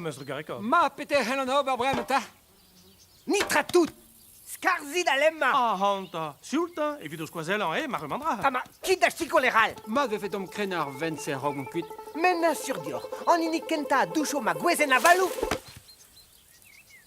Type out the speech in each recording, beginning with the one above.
Mestr Gareka. Ma, peter c'hellan ober breman ta? Nitra tout! Skarzit a lemma! Ahanta! Sioulta, evit ho skoazellañ, eh, mac'h dra. Ha ma, kit da sikour e ral! Ma vefe domp krena ar vent-se a-raok mont kuit. Me 'n sur dioc'h, an hini kenta a doucho ma gwezenn avaloù!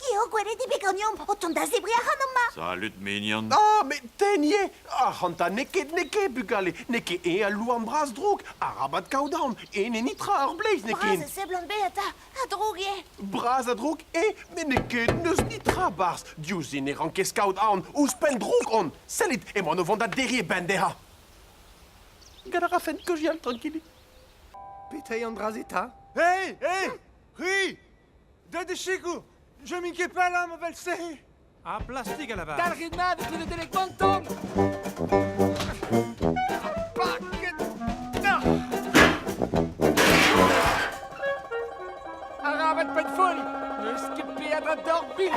Eo gwerediñ bet ganeomp o tont da zebriñ ac'han amañ. Salut, mignon. Ah, met ten eo. Ac'hanta, n'eo ket, n'eo ket, bugale. N'eo ket eñ al louarn bras-droug. Arabat kaout En e nitra ar bleiz, n'eo ket? Bras a seblant bet eta. A-droug eo. Bras a-droug eo, met n'eo ket n'eus nitra barzh. Diouzh ne rankez kaout aon. Ouzhpenn droug on. Sellit, emaon o vont da derriñ e benn dezhañ. Gant a rafen keujal, trankilit. Petai an dra-se ta? Hei, hei! Ri! Deuet e sikour Je m'in ket pas là, ma vel-se Ah, plastik à la base Dalc'hit mat eus le telekanton Arabat pet foll N'eus ket peadra dorpin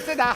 C'est da